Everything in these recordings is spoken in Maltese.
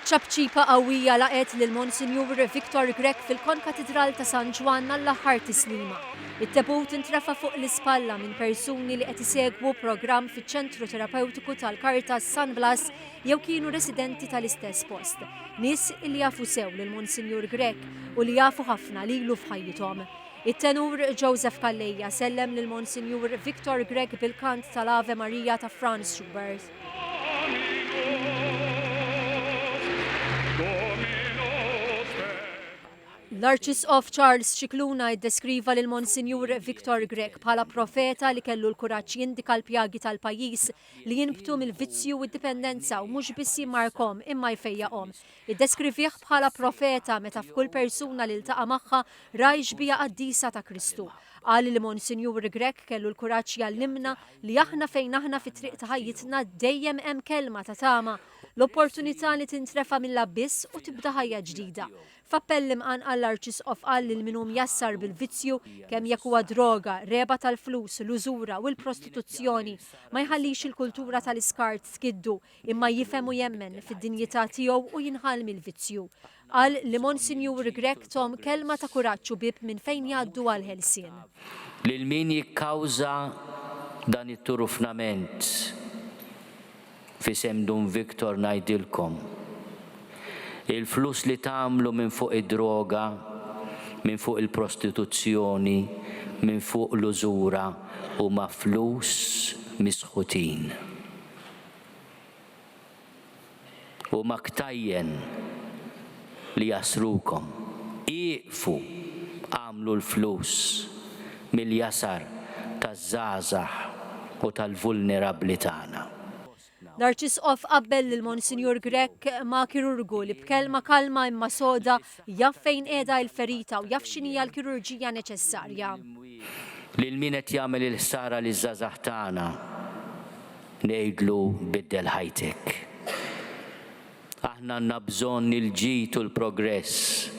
Ċapċipa qawwija laqgħet lil Monsinjur Victor Grech fil-Konkatidral ta' San Ġwann għall-aħħar tislima. It-tebut intrefa' fuq l-ispalla minn persuni li qed isegwu programm fiċ-Ċentru Terapewtiku tal-Caritas San Blas jew kienu residenti tal-istess post. Nies li jafu sew lil Monsinjur Grech u li jafu ħafna lilu f'ħajjithom. It-Tenur Joseph Calleja sellem lil Monsinjur Victor Grech bil-kant tal-Ave Maria ta' Franz Schubert. L-Arċisqof Charles Scicluna iddeskriva lil Monsinjur Victor Grech bħala profeta li kellu l-kuraġġ jindika l-pjagi tal-pajjiż li jinbtu mill-vizzju u d-dipendenza u mhux biss jimmarkhom imma jfejjaqhom. Iddeskrivih bħala profeta meta f'kull persuna li ltaqa' magħha ra ix-xbieha qaddisa ta' Kristu. Qal li Monsinjur Grech kellu l-kuraġġ jgħallimna li aħna fejn aħna fit-triq ta' ħajjitna dejjem hemm kelma ta' tama, l-opportunità li tintrefa' mill-abbiss u tibda ħajja ġdida. F'appell imqanqal l-Arċisqof qal lil min hu mjassar bil-vizzju, kemm jekk huwa droga, regħba tal-flus, l-użura u l-prostituzzjoni, ma jħallix il-kultura tal-iskart tkiddu, imma jifhem u jemmen fid-dinjità tiegħu u jinħall mill-vizzju. Qal li Monsinjur Grech Thom kelma ta' kuraġġ u bieb minn fejn jgħaddu għall-ħelsien. Lil min jikkawża dan it-turufnament f'isem Dun Victor ngħidilkom, il-flus li tagħmlu minn fuq id-droga, minn fuq il-prostituzzjoni, minn fuq l-użura huma flus misħutin. Huma ktajjen li jasrukom. Ieqfu! Agħmlu l-flus mill-jasar taż-żgħażagħ u tal-vulnerabbli tagħna. L-Arċisqof qabbel lil Monsinjur Grech ma' kirurgu li b'kelma kalma imma soda jaf fejn qiegħda l-ferita u jaf x'inhija l-kirurġija neċessarja. Lil min qed jagħmel il-ħsara liż-żgħażagħ tagħna? ngħidlu biddel ħajtek. Aħna għandna bżonn il-ġid u l-progress,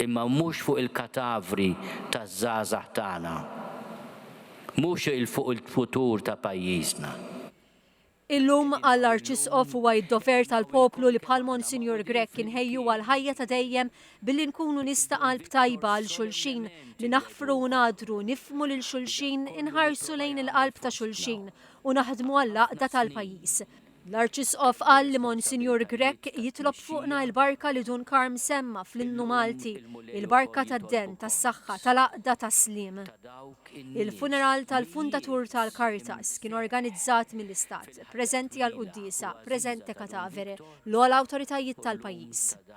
imma mhux fuq il-katavri taż-żgħażagħ tagħna. Mhux il fuq il-futur ta' pajjiżna. Illum, għall-Arċisqof huwa id-dover tal-poplu li bħal Monsinjur Grech inħejju għall-ħajja ta' dejjem billi nkunu nies ta' qalb tajba għal xulxin, li naħfru u ngħaddru, nifhmu lil xulxin, inħarsu lejn il-qalb ta' xulxin, u naħdmu għall-għaqda tal-pajjiż. L-Arċisqof qal li Monsinjur Grech jitlob fuqna il-barka li Dun Karm semma fl-innu Malti, il-barka tad-den, tas-saħħa, tal-għaqda, tas-sliem. Il-funeral tal-fundatur tal-Caritas kien organizzat mill-Istat, preżenti għall-quddiesa, presente cadavere, l-ogħla awtoritajiet tal-pajjiż.